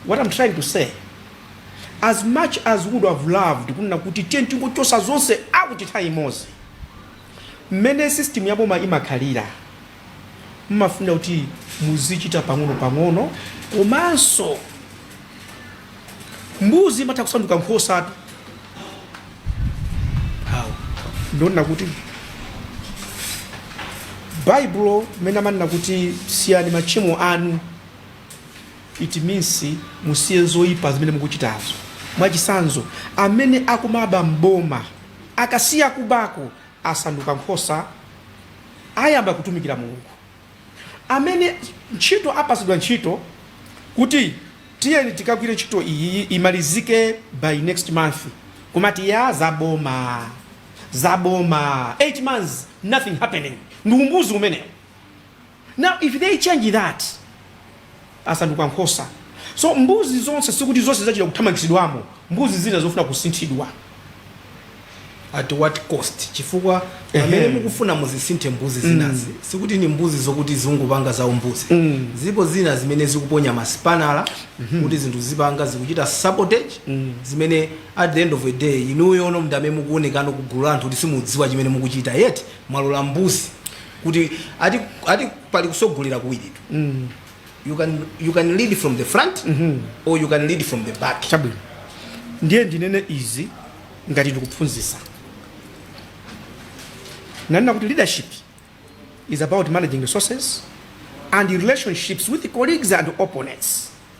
what i'm trying to say as much as we would have loved kunena kuti tiye tingochotsa zonse out nthawi imodzi mmene system ya boma imakhalira mmafunika kuti muzichita pang'ono pang'ono komanso mbuzi imatha kusanduka nkhosatu awo ndikunena kuti baibulo mmene amanena kuti siyani machimo anu it means musiye zoyipa zimene mukuchitazo mwachitsanzo amene akumaba mboma akasiya kubako asanduka nkhosa ayamba kutumikira mulungu amene ntchito apasidwa nchito kuti tiyeni tikagwire ntchito iyi imalizike by next month kumati ya zaboma zaboma 8 months nothing happening ndi umbuzi umenewo now if they change that asanduka nkhosa. So mbuzi zonse sikuti zonse zachita kuthamangitsidwamo, mbuzi zina zofuna kusinthidwa. at what cost chifukwa Ehe. pamene mukufuna muzisinthe mbuzi zinazi sikuti ni mbuzi zokuti zingopanga za umbuzi Mm. zipo zina zimene zikuponya masipanala kuti zinthu zipanga zikuchita sabotage zimene at the end of the day inuyo nomwe ndamene mukuonekano kugulu la anthu kuti simukudziwa chimene mukuchita yet mwalola mbuzi kuti ati pali kusogolera kuwiritu mm. you can lead from the front mm -hmm. or you can lead from the back chabwino ndiye ndinene izi ngati ndikuphunzisa nanena kuti leadership is about managing resources and relationships with colleagues and opponents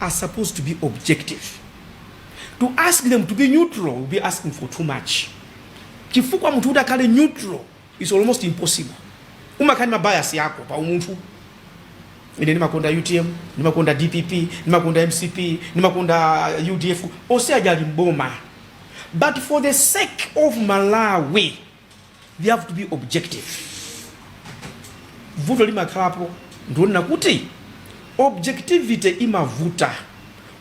are supposed to be objective. To ask them to be neutral will be asking for too much. Chifukwa munthu kuti akhale neutral is almost impossible. Umakhala ndi mabayasi yako pa umunthu. Ine ndimakonda UTM, ndimakonda DPP, ndimakonda MCP, ndimakonda UDF, onse aja ali mboma. But for the sake of Malawi, they have to be objective vuto limakhalapo ndikunena kuti objectivity imavuta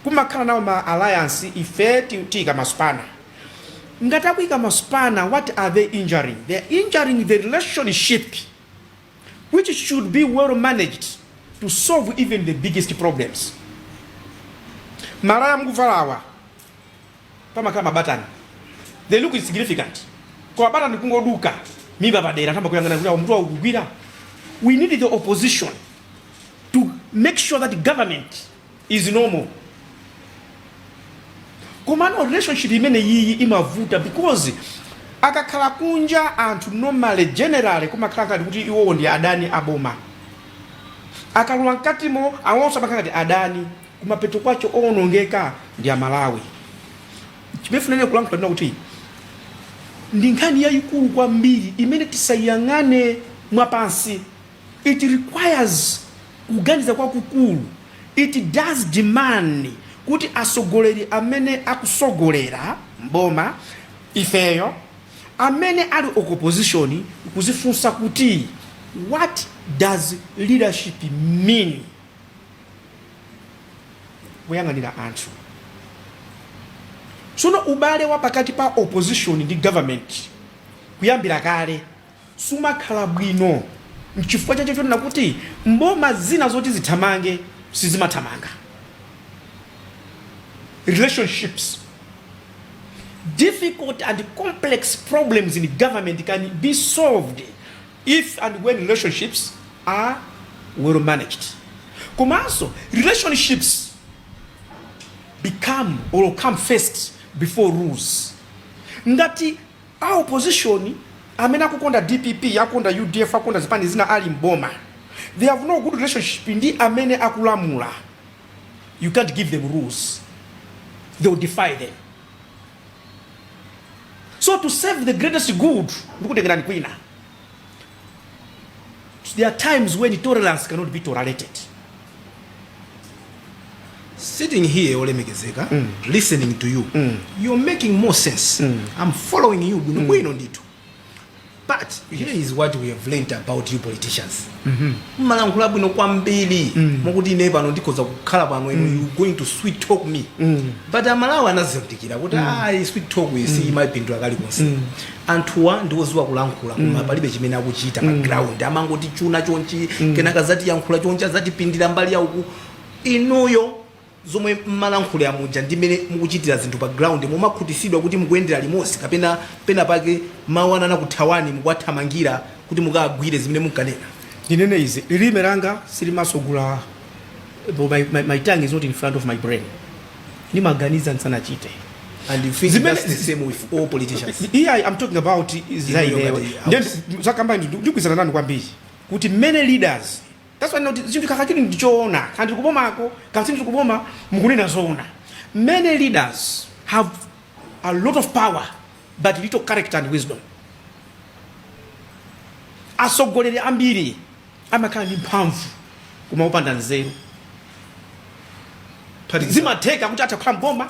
kumakhala nawo ma alliance ife ti- tiyika masipanala ngati akuyika masipanala what are they injuring they are injuring the relationship which should be well managed to solve even the biggest problems malaya mukuvalawa pamakhala mabatani they look insignificant koma batani kungoduka mimba padera tayamba kuyang'ana kuti munthu wakugwira we need the opposition to make sure that government is normal komano relationship imene yiyi imavuta because akakhala kunja anthu normally generally kumakhala ngati kuti iwowo ndi adani aboma akalowa mkatimo awonso amakhala ngati adani kumapeto kwake owonongeka ndi amalawi chimene ndikufuna kulankhula ndi kuti ndi nkhani yayikulu kwambiri imene tisayiyang'ane mwapansi it requires kuganiza kwakukulu it does demand kuti asogoleri amene akusogolera mboma ifeyo amene ali ku opposition kuzifunsa kuti what does leadership mean kuyang'anira anthu. Tsono ubale wa pakati pa opposition ndi government kuyambira kale sumakhala bwino, nchifukwa chake chonena kuti mboma zina zoti zithamange sizimathamanga. Relationships, difficult and complex problems in government can be solved if and when relationships are well managed komanso relationships become or come first before rules ngati a opposition amene akukonda dpp akukonda udf akukonda zipani zina ali mboma they have no good relationship ndi amene akulamula you can't give them rules they will defy them so to serve the greatest good ndikutengerani kwina there are times when tolerance cannot be tolerated sitting here olemekezeka mm. listening to you mm. you're making more sense mm. i'm following you bwino mm. bwino ndithu but here is what we have learnt about you politicians mmalankhula bwino kwambiri mokuti ine pano ndikhoza kukhala pano inu you going to sweet talk me but amalawi anazindikira kuti ayi sweet talk iyi si imayipindula kalikonse anthuwa ndiwoziwa kulankhula koma palibe chimene akuchita pa ground amangoti chuna chonchi kenaka azatiyankhula chonchi azatipindira mbali yauku inuyo zomwe mmalankhula muja ndi mmene mukuchitira zinthu pa ground mumakhutisidwa kuti mukuyendera limodzi kapena pena pake mawu anu anakuthawani mukuwathamangira kuti mukawagwire zimene munkanena? Ndinene izi, lilime langa silimatsogola my, my, my tongue is not in front of my brain ndimaganiza ndisanachite And you think Zimene- that's the same with all politicians? yeah I'm talking about Inuyo zaineyo ngati house. zakamba ndikugwirizana nanu kwambiri kuti many leaders That's why not zinthu kaka chili ndichoona kuti ndili kubomako ndili kuboma mukunena zoona many leaders have a lot of power but little character and wisdom atsogoleri ambiri amakhala ndi mphamvu koma opanda nzeru zimatheka kuti atha kukhala mboma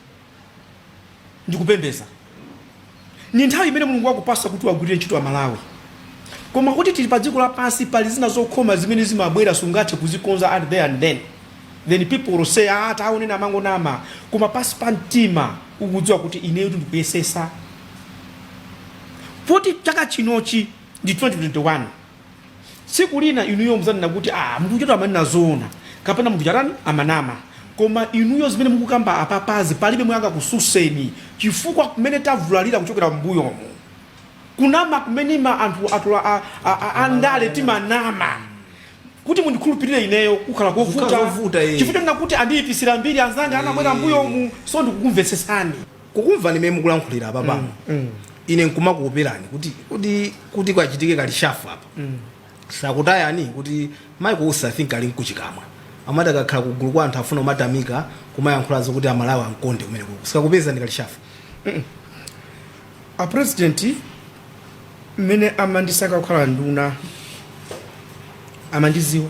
ndikupembeza ni nthawi imene mulungu wakupasa kuti uwagwirire ntchito amalawi koma kuti tili pa dziko lapansi pali zina zokhoma zimene zimabwera sungathe kuzikonza at there and then then people will say ah taonani amangonama koma pansi pa mtima ukudziwa kuti ineyo ndikuyesesa poti chaka chinochi ndi 2021 Tsiku lina inuyo muzanena kuti aah munthu ujatu amanena zoona kapena munthu uja atani amanama. Koma inuyo zimene mukukamba apapazi palibe yemwe angakususeni chifukwa mmene tavulalira kuchokera mmbuyomu kunama kumene ma anthufe a a a andale timanama kuti mundikhulupilire ineyo kukukhala kovuta chifukwa chonena kuti andiyipisira mbiri anzanga anabwera mmbuyomu so ndikukumvetsetsani. Kukumvani mmene mukulankhulira apapa mm, mm. ine nkumakuoperani kuti kukachitike kalishafu apa mm. sakutayani kuti Michael Usi I think ali nkuchikamwa amati akakhala pagulu kwa anthu afuna kumatamika kumayankhulazo kuti amalawi amkonde kumene kuko sikakupezani kalishafu a president mmene amandisankha kukhala nduna amandiziwa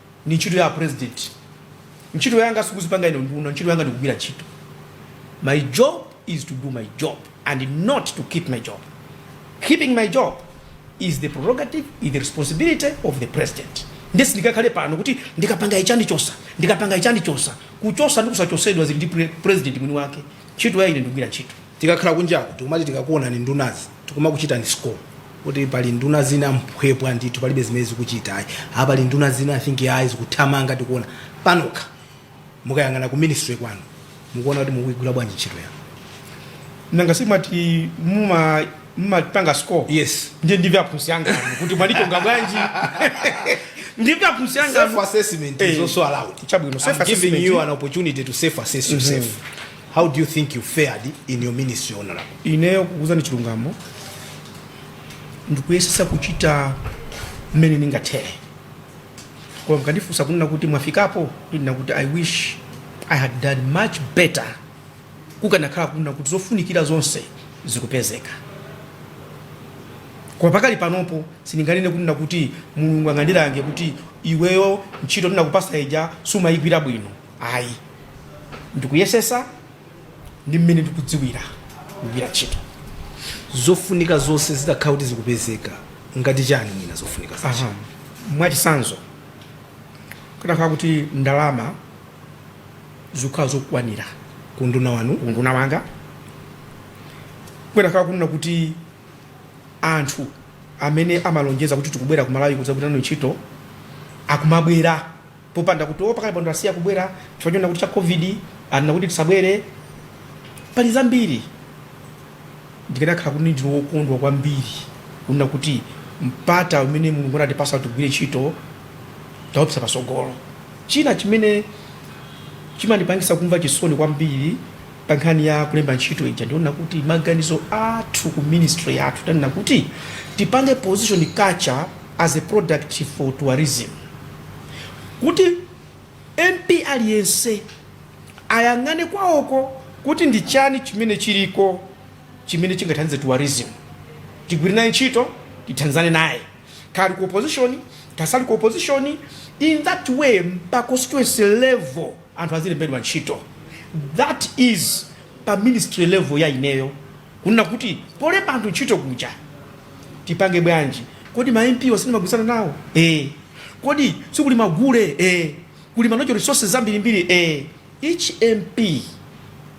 Ndi ntchito ya a president. Ntchito yanga sikudzipanga ine nduna, ntchito yanga ndikugwira ntchito. My job is to do my job and not to keep my job. Keeping my job is the prerogative, is the responsibility of the president. Ndiye sindikakhale pano kuti ndikapanga ichi andichosa, ndikapanga ichi andichosa. Kuchosa ndi kusachosedwa zili ndi president mwini wake. Ntchito ya ine ndikugwira ntchito. Tikakhala kunjaku tikumati tikakuonani ndunazi tikumakuchitani score kuti pali nduna zina mphwephwa ndithu palibe zimene zikuchita ayi apa pali nduna zina i think ayi zikuthamanga tikuona panokha mukayang'ana ku ministry kwanu mukuona kuti mukuigwira bwanji ntchito yanu nanga simati muma mumapanga score Yes. ndiye ndimve aphunzitsi anga anu kuti mwalikonga bwanji ndimve aphunzitsi anga self anu assessment Eh. is also allowed Chabwino, self I'm giving assessment. you an opportunity to self assess yourself How do you think you fared in your ministry, Honorable? ineyo kukuuzani chilungamo ndikuyesesa kuchita mmene ndingathere koma mukandifunsa kunena kuti mwafikapo ndinena kuti i wish i had done much better kukanakhala kunena kuti zofunikira zonse zikupezeka koma pakali panopo sindinganene kunena kuti mulungu angandilange kuti iweyo ntchito ndinakupasa ija sumayigwira bwino ayi ndikuyesesa ndi mmene ndikudziwira kugwira ntchito zofunika zonse zitakhala kuti zikupezeka ngati chani mwina zofunika zakezo Aha. mwachisanzo kutakhala kuti ndalama zikukhala zokwanira ku unduna wanu ku unduna wanga kutakhala kunena kuti anthu amene amalonjeza kuti tikubwera kumalawi kudzagwira nawo ntchito akumabwera popanda kuti pakali pano asiya kubwera chifukwa chonena kuti cha covid anena kuti tisabwere pali zambiri ndikanakhala kuti ndine wokondwa kwambiri kunena kuti mpata umene mulungu anatipasa kuti tigwire ntchito taupsa pasogolo china chimene chimandipangisa kumva chisoni kwambiri pa nkhani ya kulemba ntchito ija ndi yonena kuti maganizo athu ku ministry yathu tanena kuti tipange position culture as a product for tourism kuti MP aliyense ayang'ane kwaoko kuti ndi chani chimene chiliko chimene chingathandize tourism tigwire naye ntchito tithandizane naye kaya ali ku opposition kaya asali ku opposition in that way pa constituency level anthu azilembedwa ntchito that is pa ministry level ya ineyo kunena kuti polemba anthu ntchito kuja tipange bwanji, kodi ma MP onse ndimagwirizana nawo ee, kodi sikuli magule ee, kuli ma natural resources ambirimbiri ee, each MP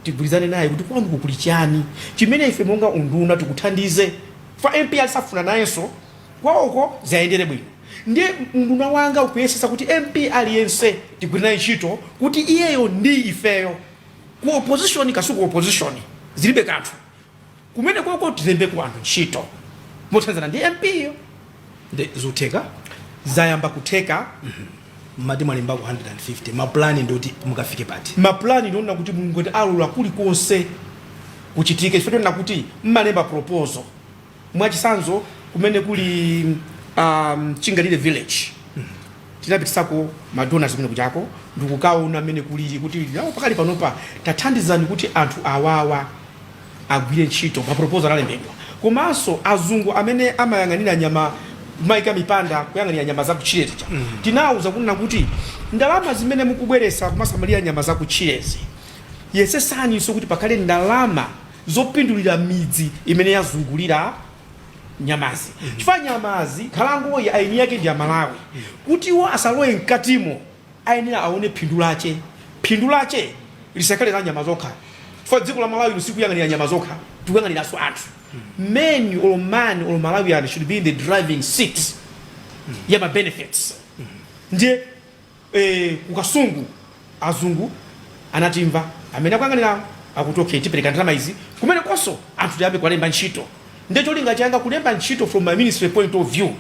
tigwirizane naye kuti kwanuko kuli chani chimene ife monga unduna tikuthandize chifukwa MP aliyense afuna nayenso kwawoko ziayendere bwino. Ndiye unduna wanga ukuyesetsa kuti MP aliyense tigwire naye ntchito kuti iyeyo ndi ifeyo. ku opposition kaya si ku opposition zilibe kanthu kumenekoko tilembeko anthu ntchito mothandizana ndi mp yo ndi zotheka zayamba kutheka mmati mwalembako 150 mapulani ndoti mukafike pati mapulani ndi onena kuti mulungu akalola kulikonse kuchitike chifukwa chonena kuti mmalemba proposal Mwachitsanzo, kumene kuli um, Chingalire village tinapitisako madonors kumenekujako ndikukaona mmene kulili kuti iwo pakali panopa tathandizani kuti anthu awawa agwire ntchito maproposal analembedwa komanso azungu amene amayang'anira nyama amaika mipanda kuyang'anira nyama zakutchire zija tinawuza kunena kuti ndalama zimene mukubweresa kumasamalira nyama zakutchirezi yesesaniso kuti pakhale ndalama zopindulira midzi imene yazungulira nyamazi chifukwa nyamazi nkhalangoyi eni ake ndi amalawi kuti iwo asalowe mkatimo ayenera aone phindu lake phindu lake lisakhale la nyama zokha chifukwa dziko la malawi sitikuyang'anira nyama zokha tikuyang'aniranso anthu men or man or malawian should be in the driving seat ya ma benefits ndiye Eee ku Kasungu azungu anatimva amene akuyang'anirawo akuti okay tipereka ndalama izi kumenekonso anthu tiyambe kuwalemba ntchito nde cholinga changa kulemba ntchito from my ministry point of view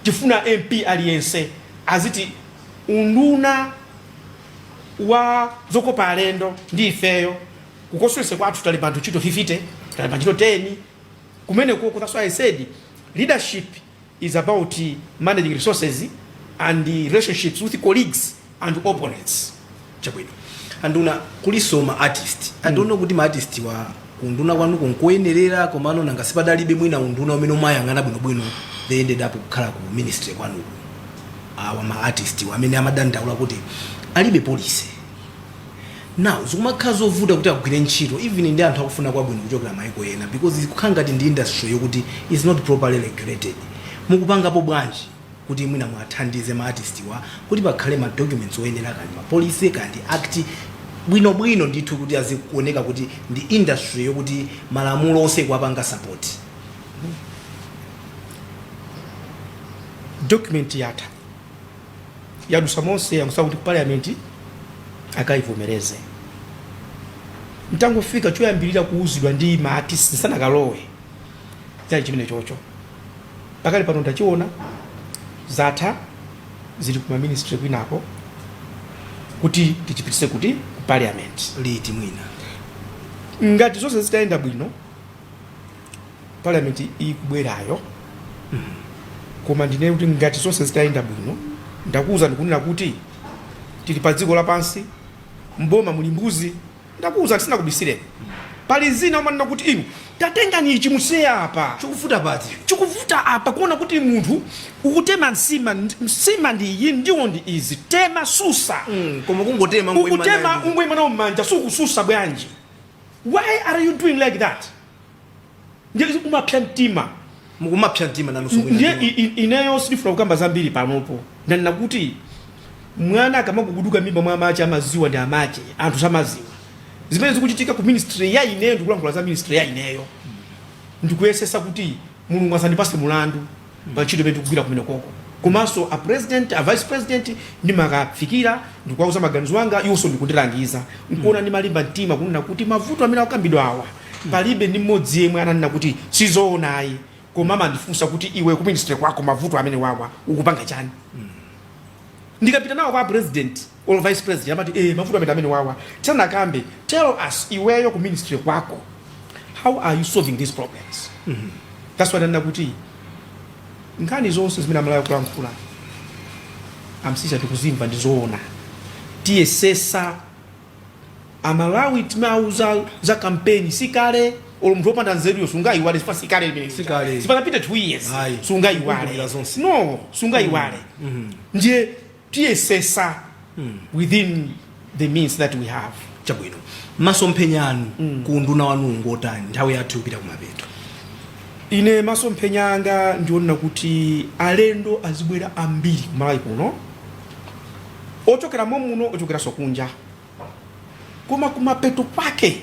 tifuna MP aliyense aziti unduna wa zokopa alendo ndi ifeyo ku constituency kwathu talemba anthu ntchito 50 talemba ntchito 10 kumenekoko that's why I said leadership is about managing resources and relationships with colleagues and opponents chabwino anduna kulinso ma artist i don't know kuti ma artist wa ku unduna kwanuko nkoyenerera komano nanga sipadalibe mwina unduna umene umayang'ana bwinobwino they ended up kukhala ku ministry kwanuko awa ma artist wa amene amadandaula kuti alibe policy Now zikumakhala zovuta kuti agwire ntchito even ndi anthu akufuna kwabwino kuchokera maiko ena because ikukhala ngati ndi industry yokuti is not properly regulated. Mukupangapo bwanji kuti mwina muwathandize ma artist wa kuti pakhale ma documents oyenera kaya ndi ma policy kaya ndi act bwinobwino ndithu kuti izikuoneka kuti ndi industry yokuti malamulo onse ikuwapanga support? Document yatha. yadusa monse yangotsala kuti parliament akaivomereze ntangofika choyambirira kuuzidwa ndi ma artist nsanakalowe chinali chimene chocho pakali pano ndachiona zatha zili kuma ministry kwinako kuti tichipitise kuti ku parliament liti mwina ngati zonse zitayenda bwino parliament ikubwerayo koma ndinene kuti ngati zonse zitayenda bwino ndakuwuza ndikunena kuti tili pa dziko lapansi mboma muli mbuzi ndakuwuza ndisanakubisireni pali zina umanena kuti inu tatengani ichi musiye apa chikuvuta pati chikuvuta apa kuona kuti munthu ukutema nsima nsima ndi iyi ndiwo ndi izi tema susa Mm, koma kungotema ukutema ungoyimanso nayo mmanja sukususa bwanji why are you doing like that ndiye kumapsa mtima mukumapsa mtima nanunso mwina ndiye ndinu. i- i- ineyo sindifuna kukamba zambiri panopo ndanena kuti mwana akamaguguduka mimba mwa amache amaziwa ndi amache anthu samaziwa zimene zikuchitika ku ministry ya ineyo ndikulankhula za ministry ya ineyo ndikuyesesa kuti mulungu asazandipase mulandu pa ntchito imene ndikugwira kumenekoko komanso a president a vice president ndimakafikira ndikuwauza maganizo anga iwonso ndikundilangiza nkuona ndimalimba mtima kunena kuti mavuto amene akukambidwa awa palibe ndi mmodzi yemwe ananena kuti sizoona ayi koma amandifunsa kuti iwe ku ministry kwako mavuto amene wawa ukupanga chani ndikapita nawo kwa president Olo vice president amati ee mavuto amene wawa tisanakambe tell us iweyo ku ministry kwako how are you solving these problems mm -hmm. that's why ndanena kuti nkhani zonse zimene amalawi akulankhula a Msiska tikuzimva ndi zoona tiyesesa amalawi timauza za kampeni sikale olo munthu opanda nzeruyo sungayiwale si pakale pamene Sikale. sipanapita 2 years Ayi. sungayiwale Kumbukira zonse. no sungayiwale ndiye tiyesesa within the means that we have. chabwino masomphenya anu mm. ku unduna wanu ngotani nthawi yathu ikupita kumapeto ine masomphenya anga ndi onena kuti alendo azibwera ambiri kumalawi kuno ochokera momuno ochokeranso kunja koma kumapeto pake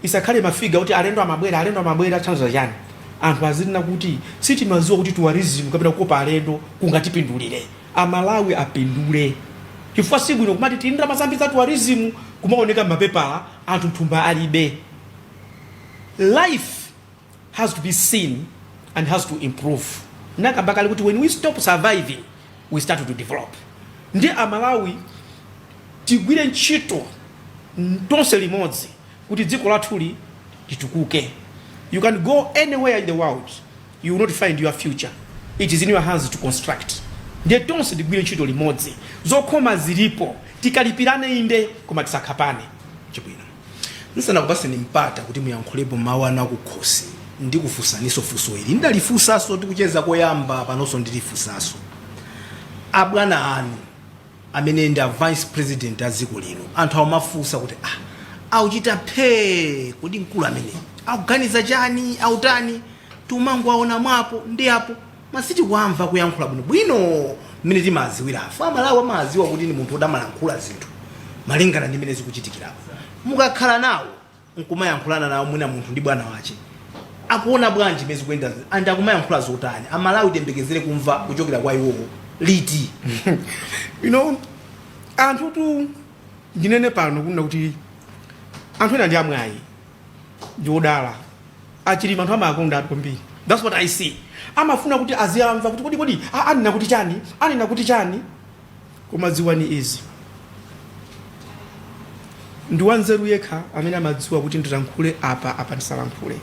Isakhale mafiga kuti alendo amabwera alendo amabwera zithandiza chani anthu azinena kuti sitimaziwa kuti tourism kapena kukopa alendo kungatipindulire amalawi apindule chifukwa sibwino kumati tili ndi ndalama zambiri za tourism kumaoneka mmapepala anthu mthumba alibe life has to be seen and has to improve ndinakamba kale kuti when we stop surviving we start to develop ndi amalawi tigwire ntchito mm, tonse limodzi kuti dziko lathuli litukuke you can go anywhere in the world you will not find your future it is in your hands to construct ndiye tonse tigwire ntchito limodzi zokhoma zilipo tikalipirane inde koma tisakhapane chabwino Ndisanakupatseni mpata kuti muyankhulepo mawu anu akukhosi ndikufunsaniso funso ili. Ndalifunsaso tikucheza koyamba panoso ndilifunsaso. Abwana anu amene ndi a vice president a dziko lino anthu akumafunsa kuti ah akuchita phee kodi mkulu ameneyi akuganiza chani, akutani? Tikumangowawona mwa apo ndi apo. koma sitikuwamva kuyankhula bwino bwino mmene timawaziwira ife amalawi amawaziwa kuti ndi munthu oti amalankhula zinthu malingana ndi mmene zikuchitikiramu mukakhala nawo nkumayankhulana nawo mwina munthu ndi bwana wache akuona bwanji mmene zikuyendera zinthu and akumayankhula zotani amalawi tiyembekezere kumva kuchokera kwa iwowo liti anthutu ndinene pano kunena kuti anthu ena ndi amwayi ndiodala achilima anthu amakonda anthu kwambiri thats what i see amafuna kuti aziyamva kuti kodi kodi a- anena kuti chani anena kuti chani koma dziwani izi ndi wanzeru yekha amene amadziwa kuti ndilankhule apa apa ndisalankhule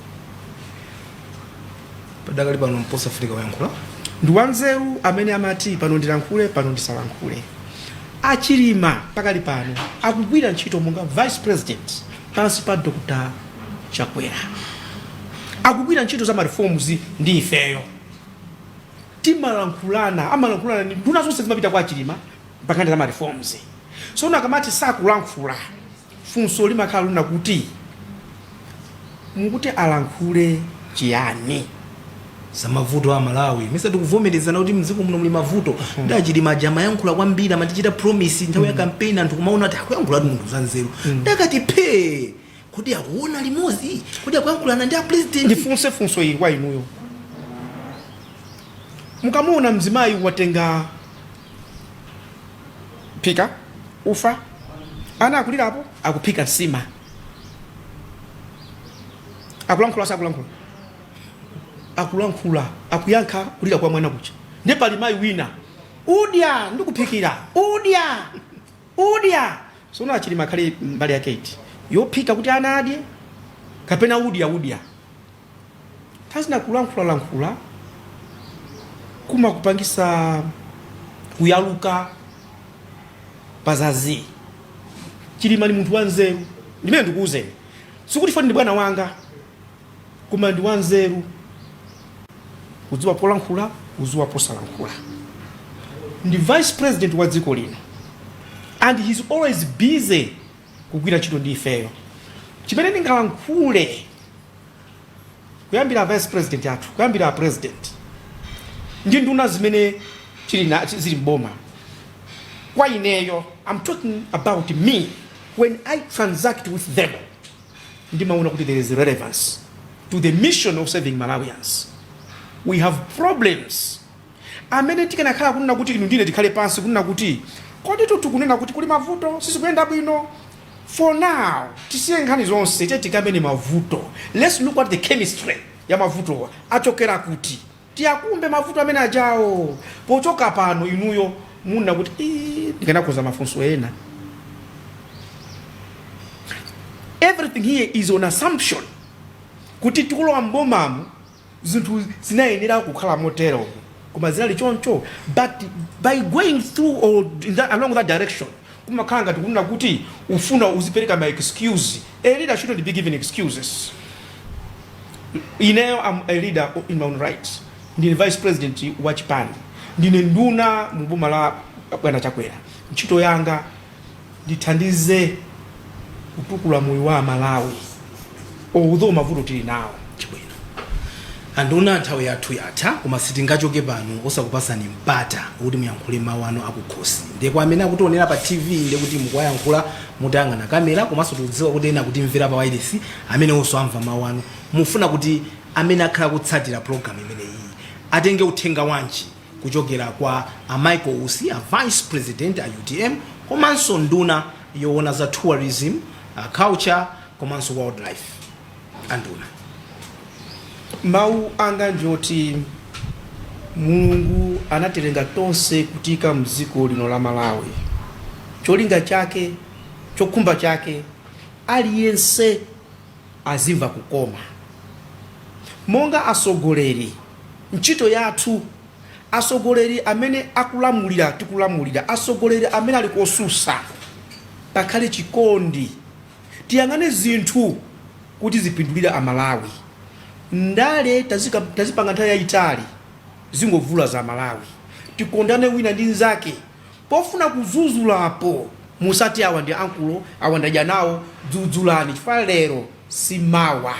padakali pano mbosa afrika wayankhula ndi wanzeru amene amati pano ndilankhule pano ndisalankhule achilima pakali pano akugwira ntchito monga vice president Pansi pa Dr Chakwera akugwira ntchito za ma reforms ndi ifeyo timalankhulana amalankhulana ndi nduna zonse zimapita kwa Chilima nkhani za ma reforms sono akamati sakulankhula funso limakhala lina kuti mukuti alankhule chiyani zamavuto a malawi nesa tikuvomerezana kuti mdziko muno muli mavuto ndi achilima aja amayankhula kwambiri amatichita promise nthawi ya kampeni anthu kumaona kuti akuyankhula ati munthu zanzeru nde akati phee kuti akuona limodzi kuti akuyankhulana ndi apresident ndifunse funso ili kwa inuyo mukamuona mzimayi watenga mphika ufa ana akulirapo akuphika nsima akulankhula sakulankhula akulankhula akuyankha kulira kwa mwana kucha ndi pali mayi wina udya ndikuphikira udya udya zoona a chilima akhale mbali yake iti yophika kuti anadya kapena udya udya azingolankhula lankhula kumatipangisa kuyaluka pazazi chilima ni munthu wanzeru ndimene ndikuuzeni sikuti foni ndi bwana wanga Koma ndi wanzeru, kudziwa polankhula, kudziwa posalankhula. Ndi vice president wa dziko lino and he's always busy kugwira ntchito ndi ifeyo. Chimene ndingalankhule kuyambira a vice president athu, kuyambira a president ndi nduna zimene zili mboma kwa ineyo, I'm talking about me when I transact with them. ndimaona kuti there is relevance to the mission of serving malawians we have problems amene tikanakhala kunena kuti inu ndine tikhale pansi kunena kuti kodi tikunena kuti kuli mavuto sizikuyenda bwino for now tisiye nkhani zonse tiye tikambirane mavuto let's look at the chemistry ya mavuto achokera kuti Tiakumbe mavuto amene ajawa pochoka pano inuyo munna kuti iih ndikanakonza mafunso ena everything here is an assumption kuti tikulowa m'bomamu zinthu zinayenera kukhala motero koma zinali choncho but by going through or along that direction Kumakhala ngati kunena kuti ufuna uzipereka ma excuse. A leader shouldn't be giving excuses. Ineyo am a leader in my own right. Ndine vice president wa chipani. Ndine nduna mu boma la bwana Chakwera. Ntchito yanga ndithandize kutukula moyo wa a Malawi. although mavuto tili nawo chabwino anduna nthawi yathu yatha koma sitingachoke pano osakupasani mpata kuti muyankhule mawu anu akukhosi ndiye kwa amene akutionera pa tv ndiye kuti mukuwayankhula mutayang'ana kamera komanso tikudziwa kuti ena akutimvera pa wailesi amenewonso amva mawu anu mufuna kuti amene akhala akutsatira programu imeneyi atenge uthenga wanji kuchokera kwa a Michael Usi, a Vice President a utm komanso nduna yoona za tourism, culture komanso wildlife a nduna. Mawu anga ndi oti Mulungu anatilenga tonse kutiika mdziko lino la Malawi. Cholinga chake, chokhumba chake aliyense azimva kukoma. Monga atsogoleri, ntchito yathu, atsogoleri amene akulamulira, tikulamulira, atsogoleri amene ali kosusa, pakhale chikondi. Tiyang'ane zinthu kuti zipindulire a Malawi. Ndale tazipanga nthawi yayitali, zingovulaza a Malawi. Tikondane wina ndi nzake, Pofuna kuzuzulapo musati awa ndi ankulo awa ndadya nawo, dzudzulani chifukwa lero si mawa.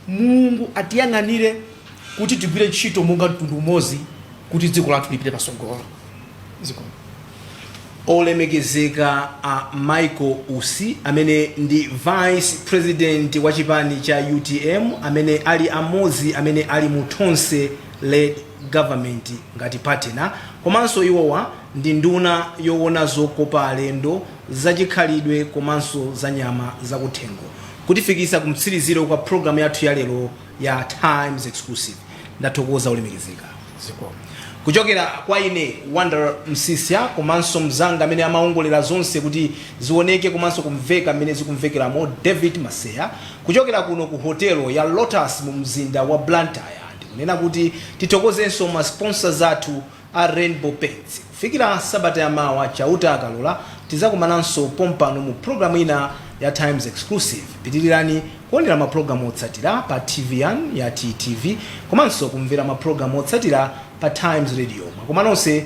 Mulungu atiyang'anire kuti tigwire ntchito monga mtundu umodzi kuti dziko lathu lipite patsogolo. Zikomo. Olemekezeka a Michael Usi amene ndi vice president wa chipani cha utm amene ali amodzi amene ali mu Tonse Led. government ngati partner komanso iwowa ndi nduna yowona zokopa alendo, zachikhalidwe komanso za nyama zakuthengo kutifikisa kumtsiriziro kwa program yathu ya lero ya times exclusive ndathokoza olemekezeka zikomo kuchokera kwa ine wonder msisya komanso mzanga amene amaongolera zonse kuti zioneke komanso kumveka mmene zikumvekelamo david maseya kuchokera kuno ku hotelo ya lotus mu mzinda wa blantyre. Kunena kuti tithokozenso ma sponsors athu a Rainbow Paints. Kufikira sabata ya mawa Chauta akalola, tizakumananso pompano mu program ina ya Times Exclusive. Pitilirani kuonera ma program otsatira pa TV yanu ya TTV komanso kumvera ma program otsatira pa Times Radio. Mwakoma nonse.